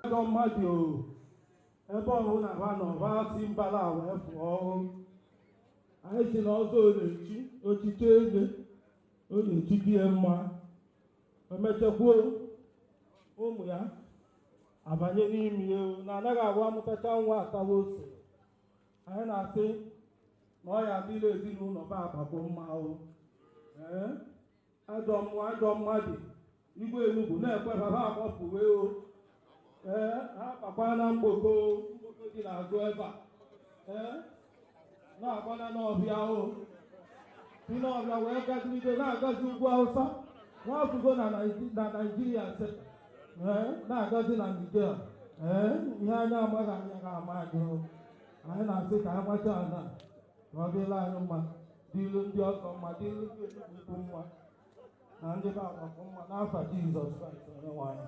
ajọ mmadụ ebe ọbụla ha nọ ha si mbala wee pụọ anyị sị na ọzọ na-echi ochichi eze ọ na-echi dị ya mma emechakwuo ụmụ ya abanye n'ime ya na anaghị agwa amụtacha nwa atawa ose anyị na-asị na ọ ya adịlị ezinụlọ be Agbakọ mma o ee ajọ mmụọ ajọ mmadụ igwe Enugwu na-ekwe baba akpọpụwe o ee ha akpakwa na mgboko mgboko dị n'azụ ebe a ee na-agbana n'ọhịa o si n'ọhịa wee gazigide na-agazi ugwu Awụsa na-afụgo na Naịji- na naijiria seta ee na-agọzi na ndịke a ee ihe anyị amaghị anya ka ama anyị o. anyị na-asị ka anyị gbacha ala ka ọ dịlị anyị mma dịlu ndị ọgọ mma dịlu ndị Enugwu Ukwu mma na ndị be Agbakọ mma n'afa Jizọs Kraịst onye nwe anyị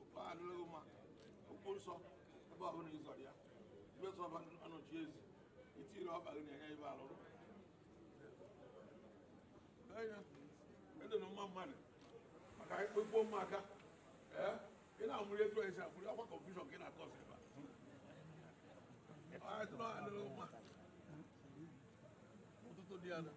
okwu a adịrịghị mma okwu nsọ ebe ọ bụla ịzọrọ ya ibe sọ ọba anọchi ezi itiri ọba gị na-enye ibe alụrụ anya ndị na mma mmadụ maka ikpe gbuo mma aka ee ị na-amụrụ etu anyị si amụrụ akwa kọnfushọn ka ị na-akọ ọsọ ebe a ọ ya tụrụ adịrịghị mma ụtụtụ dị ya na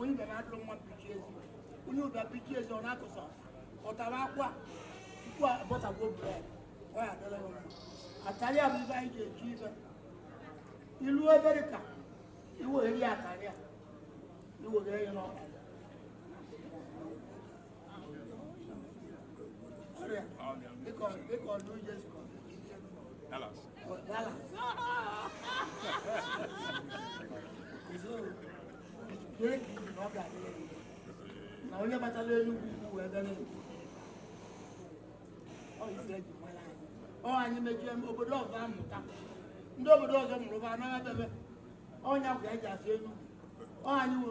onye ga na-adụrụ nwa mpichi ezi onye ụbịa mpichi ezi ọ na-akụsa ọ tara akwa tupu abọtagbuo bred ọ ya adịlị ya mma akarịa bụ ibe anyị ga-eji ibe ilu obere ka iweghere ya akarịa iweghere ya n'ọkara Dallas. Dallas. na onye batala Enugwu Ukwu wee bịa n'elu ọ anyị mechie obodo ọzọ amụta ndị obodo ọzọ mụrụ bụ anaghị abịabe ọ nya bụ ka eji asị enu ọ anyị nwe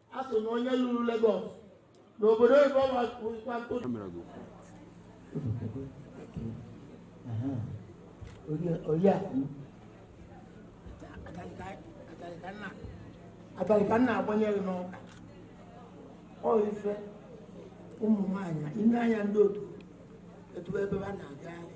asị na onye lulu Lagos n'obodo oyibo wakwa ntụ abalị ka m na-agbanye gị n'aka ọ ife ụmụ nwaanyị ime anya ndị otu etu ebe ha na-agagharị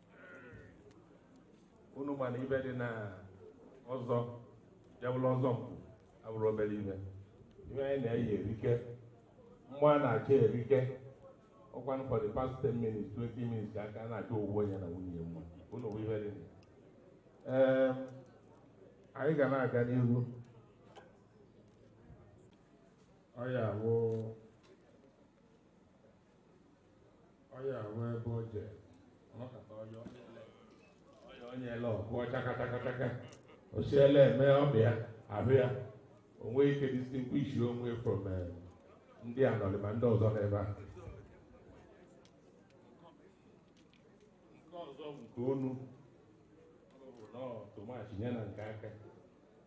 unu ma na ive dị na ọzọ ya bụrụ ọzọ mkpu abụrọ obere ive ive anyị na-eyi erike mgbe a na-achọ erike ọkwa for the past 10 minutes 20 minutes ka a na-achọ owuwe onye na nwunye mma unu bụ ive dị na ee anyị ga na-aga n'ihu ọ ya bụ onye ahụ ebe o je ọ nọkata onye onye ele onye onye ele ọ kụọ chakachakachaka osiele eme ọbịa ahụ ya o nwee ike distinguish onwe from eh, ndị anọrị ma ndị ọzọ n'ebe a nke ọzọ bụ nke onu ọ bụ nọọ tomachi nye na nke aka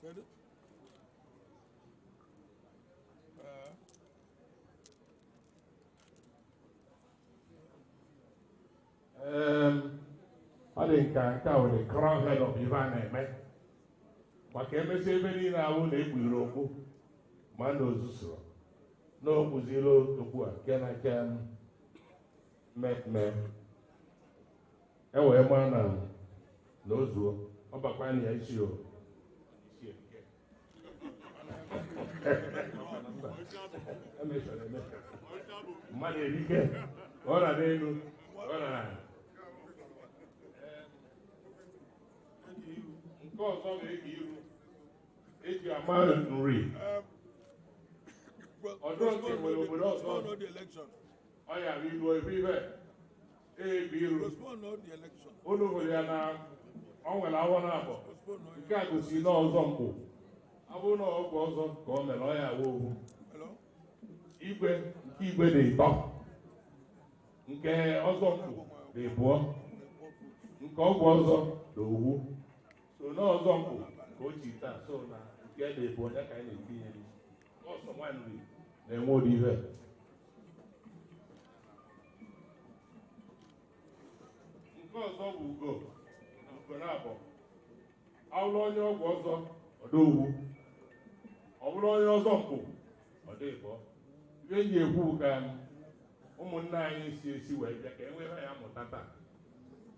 Kedu? Ee. Em, ọ dị nka nke a were crown head of ife a na-eme maka emesi ive niile ahụ na-ekpughere okpu ma na o zurọ na o kpuziri okpu a nke na nke mmemme e wee gbaa na na o zuo ọ bakwa na ya isi o mmadụ erike ọ na n'elu ọ na nke ọzọ na-aga iru eji ama nri ọdụ nke nwere obodo ọzọ ọ ya bụ ilu ebe ibe unu hụrụ ya na ọ nwere awọ na abụọ nke a gosiri na ọzọ mkpu ọ bụrụ na ọgwụ ọzọ ka ọ mere ọ ya awa owu igwe nke igwe dị ịtọ nke ọzọ mkpu dị ịbụọ nke ọgwụ ọzọ dị ovu so na ọzọ mkpu ka o chi taa so na nke dị ịbụọ ya ka anyị na-etinye na-enwe ụdị ihe nke ọzọ bụ ugo ugo naabọ ọ wụrụ onye ọgwụ ọzọ ọ dị ovu ọ bụrụ onye ọzọ mkpu ọ dị ịbọ ihe eji ekwu ka ụmụnna anyị si esi wee bịa ka e nwere ya mụta taa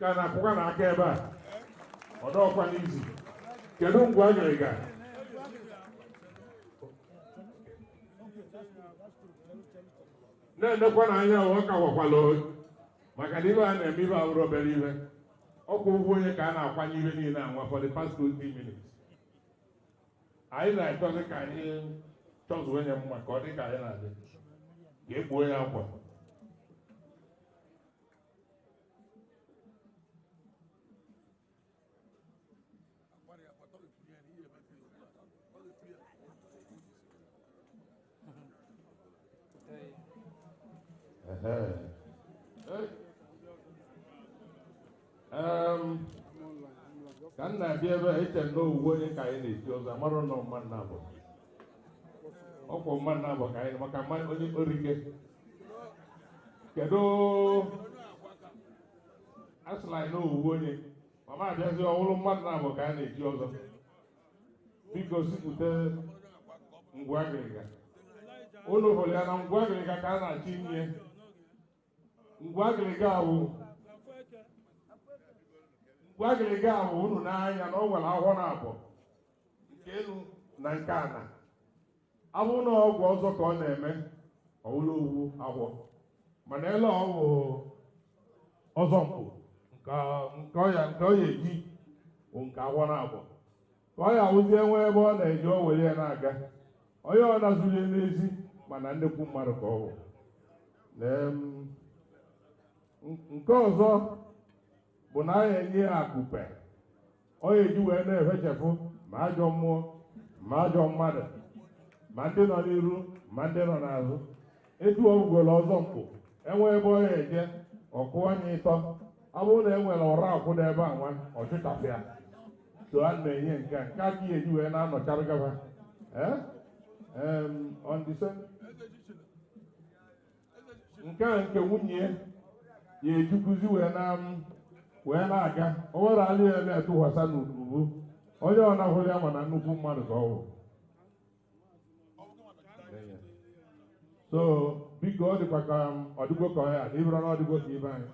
ka na-akụkwa na aka ebe a ọdọọkwa n'izu kedu mgbe a nyere ga na-enekwa na anya ọ ka gwakwala maka na ive a na-eme ive awụrọ obere ive ọkwa ugwu onye ka a na-akwanye ive niile anwa for the past 20 minutes anyị na-achọzi ka anyị chọzuo onye mma ka ọ dị ka anyị na-adị ka ekpuo ya akwa ka m na-abịa ebe a eche na ofu onye ka anyị na-echi ọzọ amarọ na ọ mmadụ naabọ ọ bụ mmadụ naabọ ka anyị maka mma onye orike kedu asị na ọ ofu onye mana abịazi ọ bụrụ mmadụ naabọ ka a na-echi ọzọ biko chịpụta ngwu agịrịga unu hụrụ ya na ngwu agịrịga ka a na-achọ inye ngwu agịrịga ahụ ngwu agịrịga ahụ unu na-ahụ ya na o nwere ahọ naabọ nke enu na nke ana awụ na ọgwụ ọzọ ka ọ na-eme ọ bụrụ ofu ahọ mana ebe ọ bụ ọzọ mkpu nke nke ọ ya nke ọ ya-eji bụ nke ahọ naabọ ọ ya-abụzi o nwee ebe ọ na-eje o were ya na-aga onye ọ na-ezute n'ezi mara na nnekwu mmadụ ka ọ bụ ee m nke ọzọ bụ na anyị enye ya akupe ọ ya-eji wee na-efechapụ ma ajọ mmụọ ma ajọ mmadụ ma ndị nọ n'iru ma ndị nọ n'azụ echigoro ọzọ mkpu e nwee ebe ọ ga-eje ọkụ anya ịtọ ọ bụrụ na e nwere ụra akwụ n'ebe a nwa ọchụchapụ ya so a na-enye nke a nke ọ ya-eji wee na-anọchara gaba ee on the same nke a nke nwunye ya-ejikwuzi wee na wee na-aga o were ya na-atụkwasa n'ubu onye ọbụna hụrụ ya mara na nnukwu mmadụ ka ọ bụ so biko ọ dịkwa ka m ọ dịgo ka ọhịa na ọ bụrụ na ọ dịgo ka ibe anyị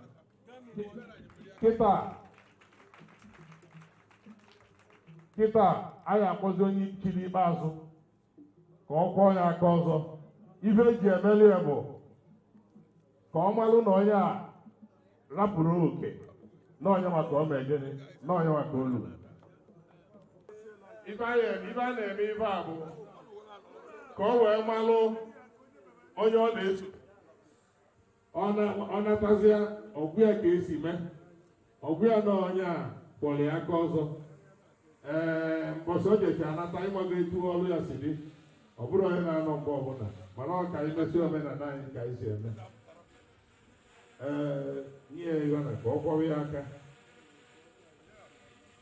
kịta kịta anyị akpọzie onye chiri ikpeazụ ka ọ kwọọ ya aka ọzọ ife eji emeli ya bụ ka ọ malụ na onye a rapụrụ oke na onye nwa ka o mee gịnị na onye nwa ka o lu ife a na-eme ife a na-eme ife a bụ ka ọ wee malụ onye ọ na-eso ọ natazịa ọgwụ ya ka esi mee ọgwụ ya na onye a kwọrọ ya aka ọzọ ee mbọchị o jecha anata ịmago etu ọrụ ya si dị ọ bụrụ onye na-anọ mgbe ọbụla mana ọ ka anyị mesị omenala anyị ka anyị si eme ee nye ya na ka ọ kwọrọ ya aka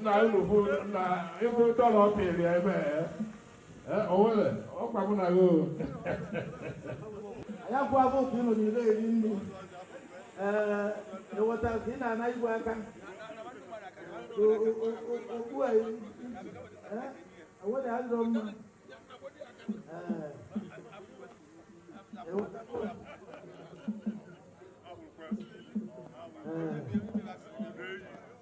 nna unu bụ na ịbụ dọla ọ pịrị ya ebe a o nwere ọ kwa mụ na gị o ya bụ abụ ka ị nọdịrị eri nri ee eweta ka ị na-ana igwe aka okpu a eweda adịrọ mma ee eweta ee